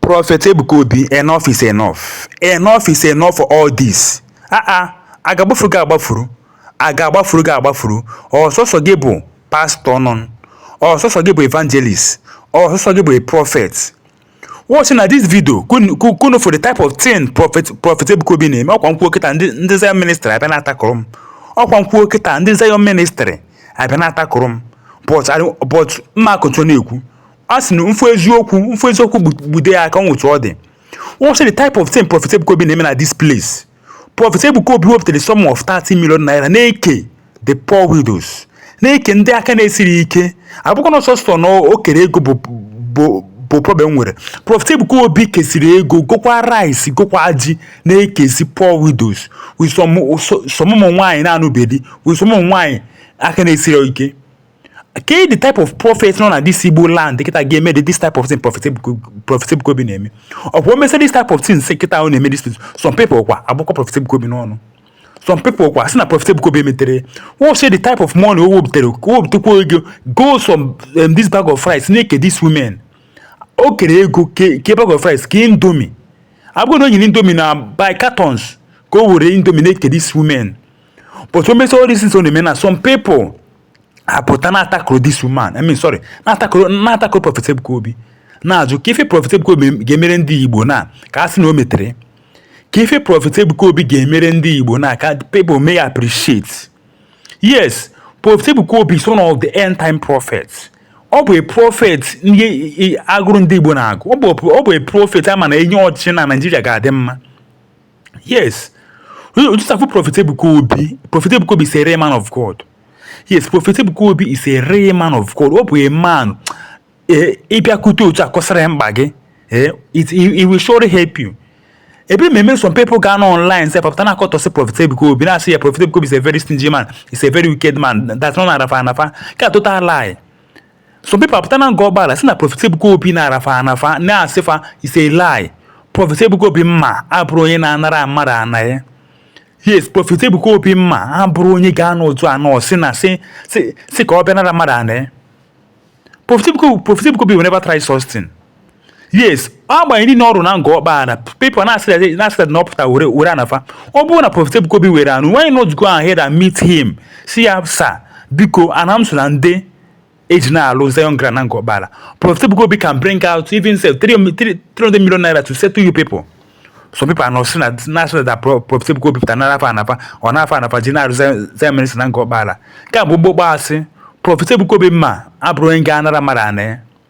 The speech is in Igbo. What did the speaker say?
Prophet Ebuka Obi, enough is enough. Enough is enough for all this. Aa, ah, ah, a ga-agbafuru gị agbafuru. A ga-agbafuru gị agbafuru. Ọ sọsọ gị bụ pastor nọ. Ọ sọsọ gị bụ evangelist. Ọ sọsọ gị bụ a prophet. Watch na this video ka unu fụ the type of thing Prophet Ebuka Obi na-eme ọ kwa m kwuo kịta ndị Zion ministry abịa na-atakụrụ m. Ọ kwa m kwuo kịta ndị Zion ministry abịa na-atakụrụ m. But but mma akụtụ na-ekwu a sị na m fụ eziokwu m fụ eziokwu gbu- gbude ya aka etu ọ dị see the type of thing Prophet Ebuka Obi na-eme na this place Prophet Ebuka Obi wepụtara the sum of 30 million naira na-eke the poor widows na-eke ndị aka na-esiri ike abụkwa na sọsọ na o kere ego bụ bụ bụ problem m nwere Prophet Ebuka Obi kesiri ego gokwa rice gokwa ji na-ekesi poor widows with some some ụmụ nwaanyị na-anụbe di with some ụmụ nwaanyị aka na-esiri ike ke the type of prophet nọ na this igbo land kịta ga-eme the this type of thing prophet ebuka obi na-eme ọ bụ o mesịa this type of thing sef kịta ọ na-eme this some people kwa abụkwa prophet ebuka obi n'ọnụ some people kwa si na prophet ebuka obi emeterọ see the type of money o wepụtara o wepụtakwa ego go some um, this bag of rice na-eke this women o kere ego ke bag of rice ke indomie abụghị na o nyere indomie na by cartons ka o were indomie na-eke this women but o mesịa all these things ọ na-eme, some people apụta na-atakụrụ this woman. I mean, sorry, na-atakụrụ, na-atakụrụ Prophet Ebuka Obi. na-ajụ ke ife Prophet Ebuka Obi ga-emere ndị Igbo na ka a sị na o metere ke ife Prophet Ebuka Obi ga-emere ndị Igbo na ka people may appreciate yes Prophet Ebuka Obi is one of the end time prophets ọ bụ prophet agụrụ ndị Igbo na-agụ ọ bụ prophet a ma na e nye ọchịchị na Naịjirịa ga-adị mma yes you just have prophet ebuka obi prophet ebuka obi is a real man of god yes prophet ebuka obi is a real man of god ọ bụ a man eh, ị bịakute otu a kọsara ya mkpa gị eh, he he will surely help you ebe mmemme some people ga-anọ online sef pụta na-akọtọsị prophet ebuka obi na-asị ya prophet ebuka obi is a very stingy man is a very wicked man that ọ nara fa ana fa ka total lie some people apụta na Ngor Okpala sị na Prophet Ebuka Obi nara fa ana fa na-asị fa is a lie Prophet Ebuka Obi mma abụrụ onye na-anara mmadụ ana ya yes Prophet Ebuka Obi mma abụrụ onye ga-anọ otu anọ si na si si ka ọ bịa nara mmadụ ana ya Prophet Ebuka Obi will never try such thing yes agbanyeghị na ọ bụrụ na Ngor Okpala people na-asịrị na ọ pụta were were ana fa ọ bụrụ na Prophet Ebuka Obi were ana unu why not go ahead and meet him sị ya sir biko ana m so na ndị e ji na-alụ Zion Ground na Ngor Okpala Prophet Ebuka Obi can bring out even sef 300 million naira to settle you people some people are now saying that na-asị na that Prophet Ebuka Obi pụta nara fa ana fa ọ nara fa ana fa ji na-alụ Zion ministry na Ngor Okpala ka bụ gbogbo asị Prophet Ebuka Obi mma abụrụ onye ga-anara mmadụ ana ya